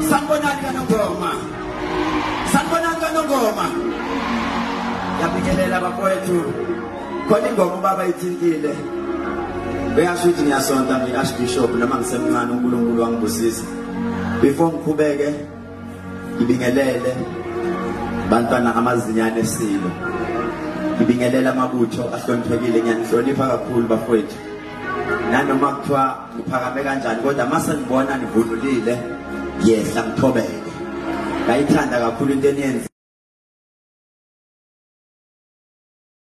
Sanibonani kanongoma. Sanibonani kanongoma. Yabingelela bakwethu. Khona ingoma ubaba ithintile. Uyasho ukuthi ngiyasonta ngi-Archbishop noma ngisemncane uNkulunkulu wangibusisa. Before ngikhubeke ngibingelele bantwana amazinyane esilo ngibingelele amabutho ahloniphekile ngiyanihlonipha kakhulu bafowethu nanoma kuthiwa ngiphakame kanjani kodwa uma sengibona nivunulile ngiyehla ngithobeke ngayithanda kakhulu into eniyenza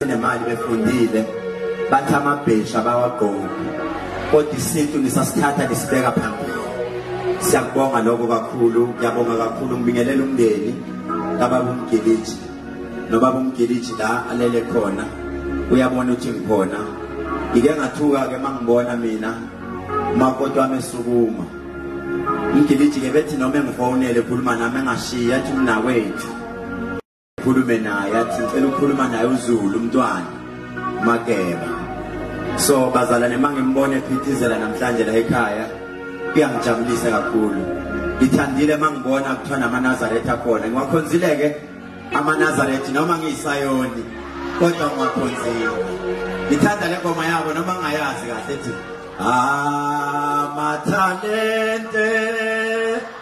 nemali befundile bathi amabhesha bawagqoki kodwa isintu nisasithatha nisibeka phambili siyakubonga lokho kakhulu ngiyabonga kakhulu ngibingelela umndeni kababa umgiliji nobaba umgiliji la alele khona uyabona ukuthi ngikhona ngike ngathuka-ke uma ngibona mina umakoti wami esukuma umgiliji-ke bethi noma engifonele ekhuluma nami engashiyi athi umnakwethu khulume naye athi ngicela ukukhuluma naye uzulu umntwana makeba so bazalwane uma ngimbona ephithizela namhlanje la ekhaya kuyangijabulisa kakhulu ngithandile uma ngibona kuthiwa namanazaretha akhona ngiwakhonzile-ke amanazarethi noma ngiyisayoni kodwa ngiwakhonzile ngithanda le ngoma yabo noma ngayazi kahle ethi amathalente ah,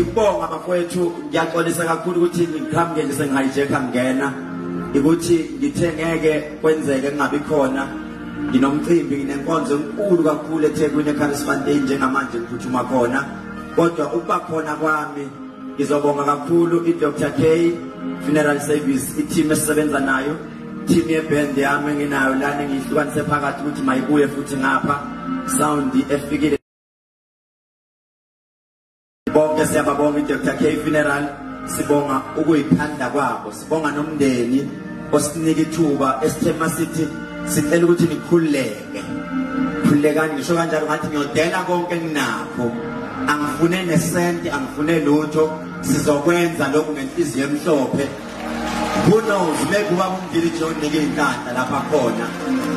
ngibonga bafowethu ngiyaxolisa kakhulu ukuthi ngiqhamuke nje sengihijacker ngena ukuthi ngithe ngeke kwenzeke kungabi khona nginomcimbi nginenkonzo enkulu kakhulu eThekwini eCarisma Day njengamanje ngiphuthuma khona kodwa ukuba khona kwami ngizobonga kakhulu i-dr k funeral service i-team esisebenza nayo team yeband yami enginayo lana ngiyihlukanise phakathi ukuthi mayibuye futhi ngapha sound efikile bonke siyababonga i-dr k funeral sibonga ukuyithanda kwabo Sibonga nomndeni osinika ithuba esithema sithi sicela ukuthi nikhuleke. Khulekani ngisho kanjalo ngathi ngiyodela konke enginakho. Angifune nesenti, angifune lutho, sizokwenza lokhu ngenhliziyo emhlophe. Who knows maybe ubaba umdili John nike inhlanhla lapha khona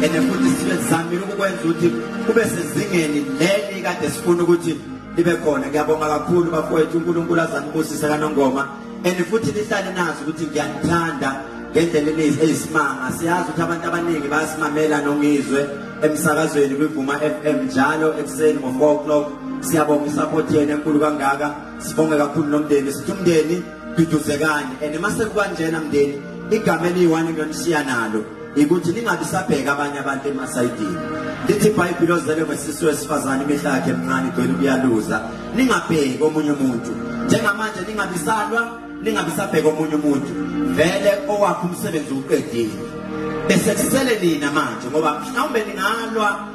and futhi sibe sizamile ukukwenza ukuthi kube sezingeni leli kade sifuna ukuthi libe khona ngiyabonga kakhulu bafowethu uNkulunkulu azanibusise kanongoma and futhi nihlale nazi ukuthi ngiyanithanda ngendlela eningi eyisimanga siyazi ukuthi abantu abaningi bayasimamela nongizwe emsakazweni kwivuma FM njalo ekuseni ngo 4 o'clock siyabonga isupport yenu enkulu kangaka sibonge kakhulu nomndeni sithi umndeni duduzekani and mase kukanjena mndeni igama eliyi-one ngiyonisiya nalo ikuthi lingabi sabheka abanye abantu emasayidini lithi ibhayibhile ozele ngesisu wesifazane imihla yakhe emncane igcwele ukuyaluza ningabheki omunye umuntu njengamanje ningabisalwa ningabisabheka omunye umuntu vele owakhe umsebenzi uqedile bese kusele nina manje ngoba mhlawumbe ningalwa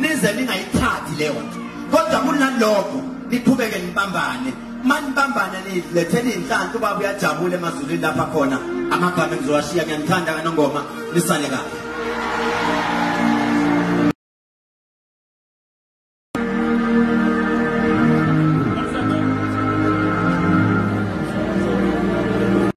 nize ningayithathi leyo nto kodwa kunalokho niqhubeke nibambane manibambane nilethele inhlanhla ubaba uyajabula emazulwini lapha khona amagama engizowashiya ngiyanithanda kanongoma nisale kahle